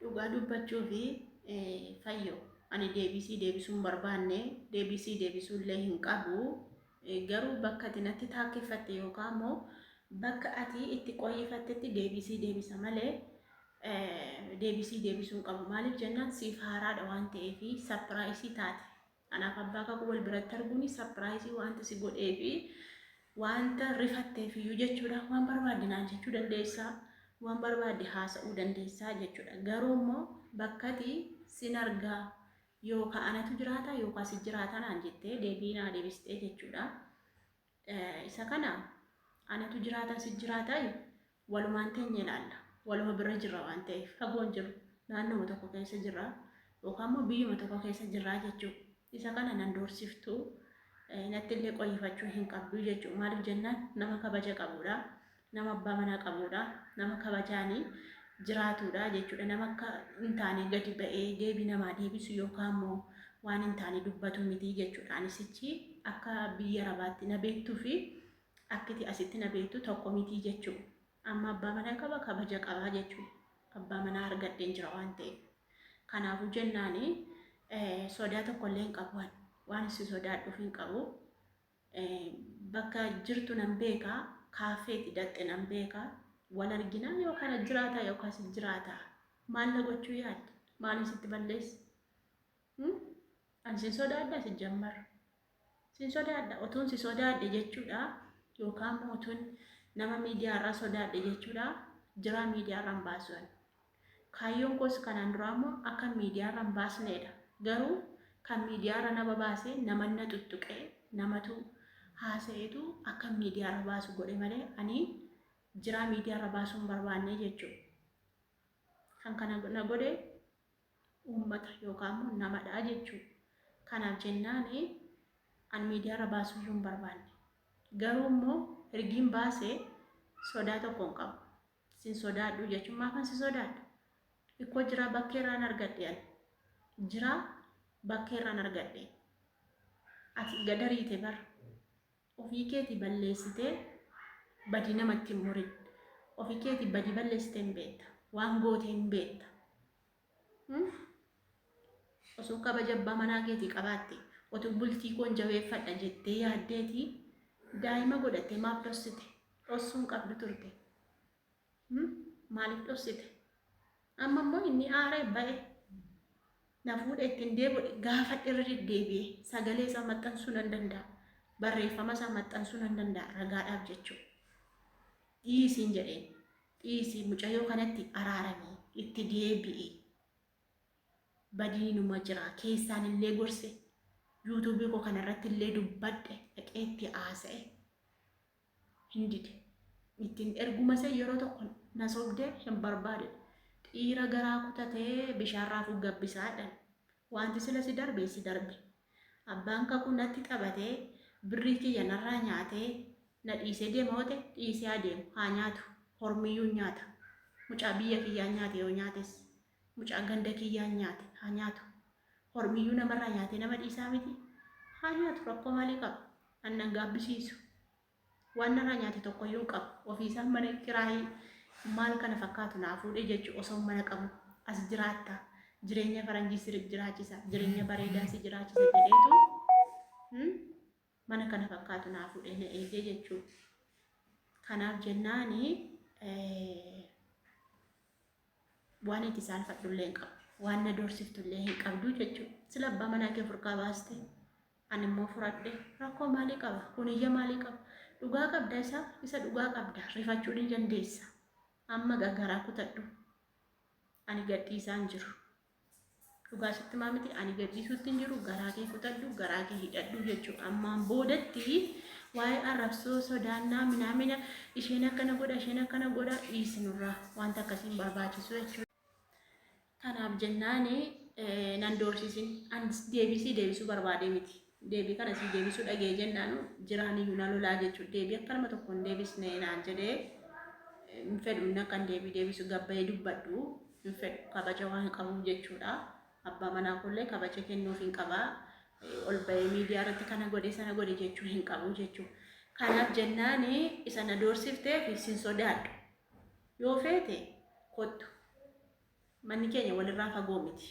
Dhugaa dubbachuufi fayyo ani deebii sii deebisuu hin barbaanne deebii sii deebisuu illee hin qabu garuu bakka ati natti taakkeffatte yookaan immoo bakka ati itti qoyyifattetti deebii sii deebisa malee deebii sii deebisuu hin qabu maaliif jennaan siif haaraadha waan ta'eefi sapiraayisii taate Anaaf abbaa kakuu wal biratti arguun sarpiraayisii waanta si godhee fi waanta rifatteef iyyuu jechuudha. Waan barbaadde naan jechuu dandeessaa, waan barbaadde haasa'uu dandeessaa jechuudha. Garuu immoo bakkati sin argaa yookaa anatu jiraataa yookaa si jiraataa naan jettee deebii naa deebistee jechuudha. Isa kana anatu jiraata si jiraataayi walumaan teenya ilaalla. Waluma bira jirra waan ta'eef fagoon jiru naannoma tokko keessa jirra yookaan immoo biyyuma tokko keessa jirraa jechuu isa kana nan doorsiftuu nattillee qoyyifachuu hin qabduu jechuu maaliif jennaan nama kabaja qabuudha Nama abbaa manaa qabuudha. Nama kabajaan jiraatuudha jechuudha. Nama akka hin taane gadi ba'ee deebii namaa deebisu yookaan immoo waan hin taane dubbatu miti jechuudha. Ani sichi akka biyya Arabaatti na beektuu fi akkiti asitti na beektu tokko miti jechuudha. Amma abbaa manaa qaba kabaja qabaa jechuudha. Abbaa manaa argadheen jira waan ta'eef. Kanaafuu jennaani sodaa tokkollee hin qabu ani. Waan isin sodaadhuuf hin qabu. Bakka jirtu nan beeka, kaaffee itti dhaqxe nan beeka, wal arginaa yoo kana jiraataa yookaan sin jiraataa? Maal na gochuu yaadda? Maalin sitti balleessa? Hmm? Ani sin sodaadhaa sijjammar. Sin sodaadha. Otuun si sodaadhe jechuudha yookaan immoo otuun nama miidiyaarraa sodaadhe jechuudha. Jiraa miidiyaarraan baasuun. Kaayyoon koos kanaan duraa immoo akkan miidiyaarra hin baasneedha. Garuu kan miidiyaarra na babaase naman na xuxxuqee, namatu haasa'eetu akkan miidiyaarra baasu godhe malee ani jiraa miidiyaarra baasuu hin barbaanne jechuudha. Kan kana na godhe uummata yookaan immoo namadha jechuudha. Kanaaf jennaan ani miidiyaarra baasuu iyyuu hin barbaanne. Garuu immoo ergiin baase sodaa tokko hin qabu. Sin sodaadhu jechuun maafan si sodaadha? Ikkoo jiraa bakkee irraan argadhe ani. Jiraa bakkee irraan argadhe. Ati gadariite bar. Ofii keeti balleessitee badii namatti hin murin. Ofii keeti badii balleessitee hin beekta. Waan gootee hin beekta. osoo kabaja abbaa manaa keetii qabaatte otuu bultii koon jabeeffadha jettee yaaddeetii daa'ima godhattee maaf dhossite dhossuun qabdu turte maaliif dhossite amma immoo inni aaree ba'e na fuudhe ittiin deebi'e gaafadhe irra deddeebi'e sagalee isaa maxxansuu nan danda'a barreeffama isaa maxxansuu nan danda'a ragaadhaaf jechuudha dhiisiin jedheen Dhiisi mucayoo kanatti araarami itti deebi'i badiinuma jira keessaan illee gorse yuutuubii koo kana irratti illee dubbadhe dhaqee itti haasa'e hin dide ittiin erguma isee yeroo tokko na sobde hin barbaade dhiira garaa kutatee bishaan raafuu gabbisaadhan wanti sila si darbe si darbe Abbaan kakuu natti taphatee birrii kiyya narraa nyaatee na dhiisee deema yoo ta'e dhiisee haa deemu haa nyaatu hormiyyuu hin nyaata mucaa biyya kiyyaa hin nyaate yoo nyaates mucaa ganda kiyyaa hin nyaate haa nyaatu hormiyyuu namarraa nyaatee nama dhiisaa miti haa nyaatu rakkoo maalii qaba an nan gaabbisiisu Waan narraa nyaate tokkoyyuu hin qabu. Ofiisaa mana kiraayii maal kana fakkaatu naa fuudhee jechu osoon mana qabu as jiraatta, jireenya faranjii si jiraachisa, jireenya bareedaa si jiraachisa jedheetu hmm, mana kana fakkaatu naa fuudhee na eegee jechuu. Kanaaf jennaani eh, waan itti saalfadhullee hin qabu. Waan na doorsiftu illee hin qabdu jechuudha. Sila abbaa manaa kee furkaa baaste Ani immoo furadhe. Rakkoo maalii qaba? Kun iyya maalii qaba? Dhugaa qabda isa, isa dhugaa qabda. Rifachuu ni dandeessa. Amma ga garaa kutadhu. Ani gad dhiisaa hin jiru. Dhugaa sitti himaa miti ani gad dhiisuutti hin jiru. Garaa kee kutadhu, garaa kee hidhadhu jechuudha. Ammaan boodatti waa'ee arrabsoo sodaannaa minaamina isheen akkana godha, isheen akkana godha dhiisi nurraa. Wanta akkasii hin barbaachisu jechuudha. Kanaaf jennaan nan doorsisin. An deebisii deebisuu barbaadee miti. Deebii kana sii deebisuu dhagee jennaan jiraan iyyuu na lolaa jechuudha. Deebii akka nama tokko hin deebisne naan jedhee hin fedhu inni akka hin deebii deebisu gabbayee dubbadhu hin fedhu kabaja waan qabuuf jechuudha. Abbaa manaa koollee kabaja kennuuf hin qaba. Ol bahee miidiyaa irratti kana godhe sana godhe jechuu hin qabu jechuudha. Kanaaf jennaan isa na doorsifteef sin sodaadhu. Yoo feete kottu. Manni keenya walirraa fagoo miti.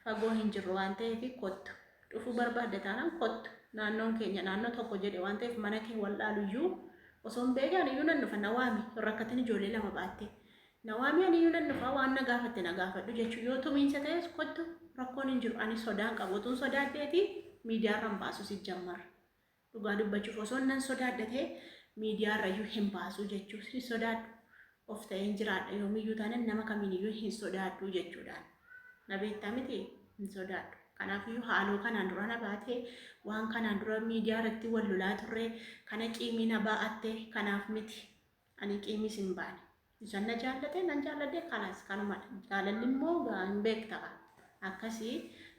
Fagoo hin jirru waan ta'eef kottu. Dhufuu barbaadda taanaan kottu. Naannoon keenya naannoo tokko jedhe waan ta'eef mana kee wal'aalu iyyuu osoo hin beekaan iyyuu nan dhufa na waami hin rakkatin ijoollee lama baattee. Na waami ani iyyuu nan dhufa waan na gaafatte na gaafadhu jechuun yoo tumiinsa ta'es kottu rakkoon hin jiru ani sodaan qabu utuun sodaadheeti miidiyaarra hin baasu sijjammar. Dhugaa dubbachuuf osoon nan sodaadha ta'e miidiyaa irrayyuu hin baasuu jechuuf hin sodaadhu. Of ta'een jiraadha yoomiyyuu taanan nama kamiiniyyuu hin sodaadhu jechuudhaan. Na beektaa miti hin sodaadhu. Kanaafiyyuu haaloo kanaan dura na baate waan kanaan dura miidiyaa irratti wal lolaa turre kana ciimii na baa'atte kanaaf miti. Ani qiimiis hin baane. Isan na jaallate nan jaalladhe kalaas kanumadha. Jaalalli immoo gaa hin beekta gaa. Akkasi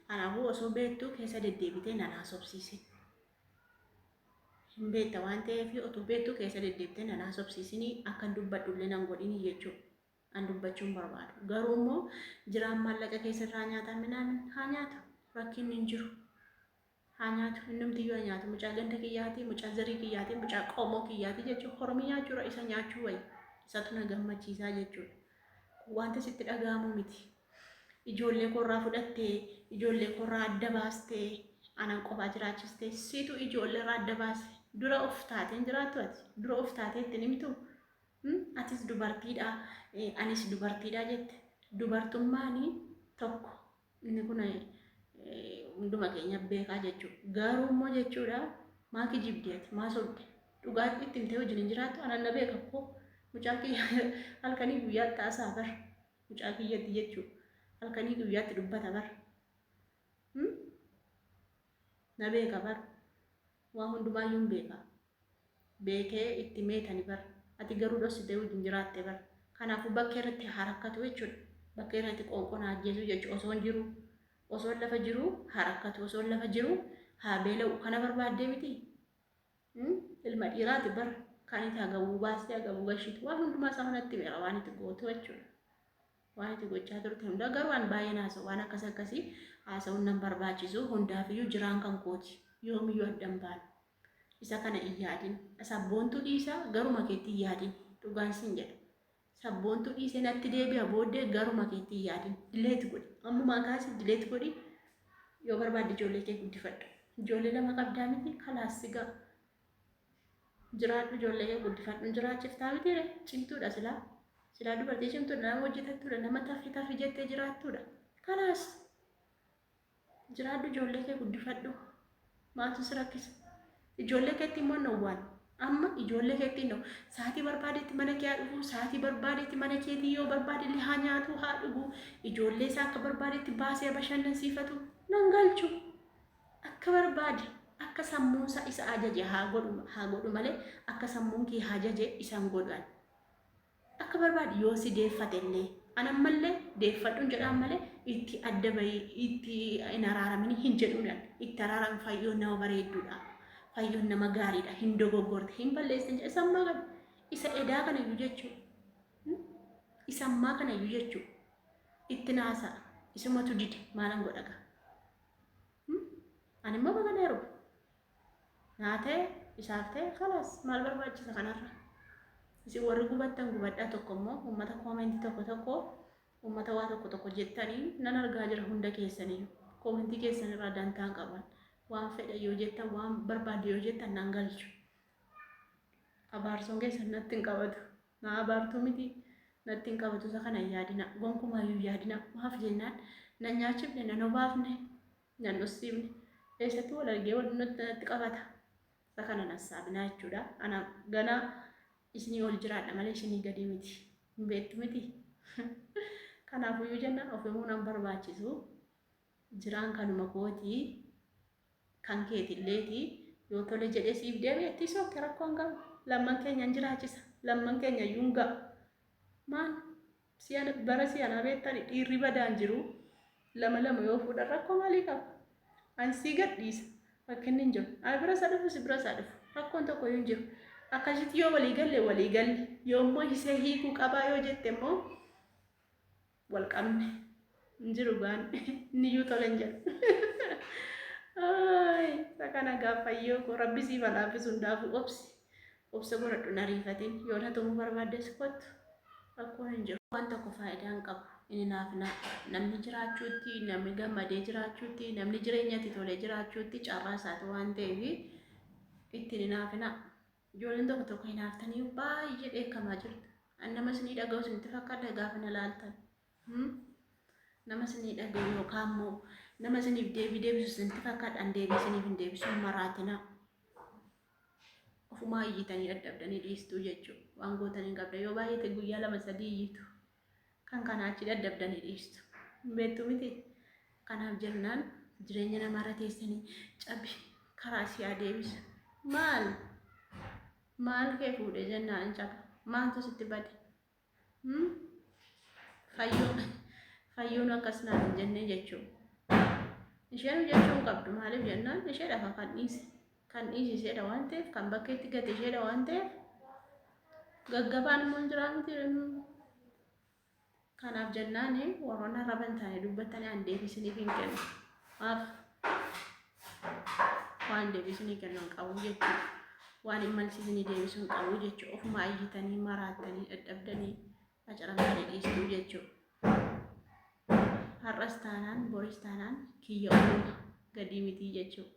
kanaafuu osoo beektuu keessa deddeebitee nan haasofsiisin. Hin beekta waan ta'eef otuu beektuu keessa deddeebitee nan haasofsiisini akkan dubbadhu illee nan godhini jechuudha. An dubbachuu hin barbaadu. Garuu immoo jiraan maallaqa keessa irraa nyaataa minaamin haa nyaatu rakkinni hin jiru. haa nyaatu innumtiyyuu haa nyaatu mucaa ganda kiyyaati mucaa zarii kiyyaati mucaa qomoo kiyyaati jechuun hormi nyaachuudha isa nyaachuu wayi isatu na gammachiisaa jechuudha kun wanta sitti dhaga'amuu miti ijoollee koorraa fudhattee ijoollee koorraa adda baastee anaan qofaa jiraachistee siitu ijoolleerraa adda baase dura of taateen jiraattu ati dura of taatee ittiin himtu atis dubartiidha anis dubartiidha jette dubartummaanii tokko Inni kun hunduma keenya beekaa jechuudha. Garuu immoo jechuudha maa kijibdi ati maa sobde dhugaa itti himtee wajjin hin jiraattu anan na beeka koo mucaa kiyya halkanii guyyaatti haasaa bar mucaa kiyyatti jechuudha halkanii guyyaatti dubbata bar na beeka bar waa hundumaayyuu hin beeka beeke itti meetani bar ati garuu dhossite wajjin jiraatte bar kanaafu bakka irratti haa rakkatu jechuudha bakka irratti qoonqoon haa ajjeesuu jechu osoon jiru osoon lafa jiru haa rakkatu osoon lafa jiru haa beela'u kana barbaaddee miti ilma dhiiraati bar kan itti hagabuu baastee hagabuu gashitu waan hundumaa isaa hunatti meera waan itti gootu jechuudha waan itti gochaa turte hundaa garuu an baay'een haasa'u waan akkas akkasii haasa'uun nan barbaachisu hundaafiyyuu jiraan kan kooti yoomiyyuu addan baana Isa kana hin yaadin. Sabboontuu dhiisa garuma keetti hin yaadin. Dhugaan sin jedha. Sabboontuu dhiise natti deebi'a booddee garuma keetti hin yaadin. Dileeti godhi. Ammumaa kaasi dileeti godhi. Yoo barbaadde ijoollee kee guddifadhu. Ijoollee lama qabdaa miti kalaas sigaa. Jiraadhu ijoollee kee guddifadhu jiraachiftaa miti re cimtuudha silaa. Silaa dubartii cimtuudha nama hojjetattuudha nama tafi tafi jettee jiraattuudha. Kalaas. Jiraadhu ijoollee kee guddifadhu. Maaltu si rakkisa? Ijoollee keetti immoo nawwaan. Amma ijoollee keetti nawu. Sa'aatii barbaadetti mana kee haa dhufu. Sa'aatii barbaadetti mana keetii yoo barbaade illee haa nyaatu haa dhugu. Ijoollee isaa akka barbaadetti baasee bashannansiifatu. Nan galchu. Akka barbaade akka sammuun isaa isa ajaje haa godhu haa godhu malee akka sammuun kee haa ajaje isan godhan. Akka barbaadi yoo si deeffate illee an ammallee deeffadhuun jedhaan malee itti adda bahii itti hin araaramini hin jedhuun an itti araaram fayyoon nama bareedduudha fayyoon nama gaariidha hin dogoggorte hin balleessin jedhe sammaa kana isa edaa kana iyyuu jechuu isa ammaa kana iyyuu jechuu itti naasaa isumatu dide maalan godhaga an immoo baga dheeru naa ta'e isaaf ta'e kalaas maal barbaachisa kanarra isin warri gubattan gubadhaa tokko immoo uummata koomentii tokko tokko uummata waa tokko tokko jettanii nan argaa jira hunda keessanii koomentii keessan irraa dantaan qaban waan fedha yoo jettan waan barbaadde yoo jettan nan galchu abaarsoon keessan natti hin qabatu naa abaartuu miti natti hin qabatu isa kana yaadina gonkumaa yoo yaadina maaf jennaan nan nyaachifne nan obaafne Nan usfimne. Eessatti wal argee wal natti qabata. Isa kana hin hassaabinaa jechuudha. Ana ganaa isinii ol jiraadha malee isinii gadi miti. Hin beektu miti. Kanaafuyyuu jenna of himuu nan barbaachisu. Jiraan kanuma kooti. Kan keetilleeti. Yoo tole jedhee siif deebi'e itti sookke rakkoon qabu. Lamman keenya hin jiraachisa. Lamman keenya iyyuu hin ga'a. Maal Si'ana bara si'anaa beektani dhiirri badaan jiru lama lama yoo fuudhan rakkoo maalii qaba? An sii gad dhiisa rakkinni hin jiru. Ana biras haa dhufu si biras haa dhufu rakkoon tokkoyyuu hin jiru. Akkasitti yoo walii galle walii galle yoo immoo hisee hiikuu qabaa yoo jette immoo wal qabne. hin jiru gaan inni iyyuu tole hin jedhu Ay, isa kana gaaffayyoo koo rabbi siif haa laaffisu hundaafuu obsi obsa godhadhu hin ariifatin yoo na tumuu barbaaddes kottu rakkoon hin jiru waan tokko faayidaa hin qabu inni naaf naaf namni jiraachuutti namni gammadee jiraachuutti namni jireenyatti tolee jiraachuutti carraa isaati waan ta'eef ittiin hin haafina ijoolleen tokko tokko hin haaftanii baay'ee dheekkamaa jirtu an namas ni dhaga'u isinitti fakkaata gaafa na laaltan Hmm? Nama isinii dhagayu yookaan immoo nama isiniif deebii deebisu isinitti fakkaadhaan deebii isiniif hin deebisu hin maraatina. Ofumaa iyyitanii dadhabdanii dhiistuu jechuudha. Waan gootan hin qabda. Yoo baay'ate guyyaa lama sadii iyyitu. Kan kanaa achi dadhabdanii dhiistu. Hin beektu miti. Kanaaf jennaan jireenya namaarra teessanii cabi karaa si haa deebisu. Maal? Maal kee fuudhe jennaan hin caba. Maaltu sitti bade? Hmm? Fayyuun fayyuun akkas naan hin jennee jechuun. Isheen hojjechuu hin qabdu maaliif jennaan isheedha kan kan dhiise. Kan dhiise isheedha waan ta'eef kan bakkeetti gate isheedha waan ta'eef gaggabaan immoo hin jiraa miti. Kanaaf jennaan warroonni arraba hin taane dubbattanii aan deebisiniif hin kennu. Maaf? waan deebisnii kennan qabu jechuudha. Waan hin malsiisnii deebisuun qabu jechuudha. Ofuma iyyitanii maraattanii dadhabdanii qacaramtanii dhiistuu jechuudha. Har'as taanaan boris taanaan kiyya uumama gadii mitii jechuudha.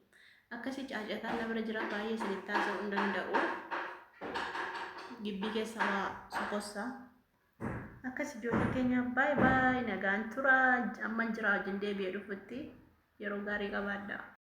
Akkasii caacataan na bira jira baay'ee isinitti haasa'uu hin danda'u. Gibbii keessa waa sokossaa. Akkas ijoollee keenya baay baay nagaan tura amman jiraa wajjin deebi'ee dhufutti yeroo gaarii qabaadhaa.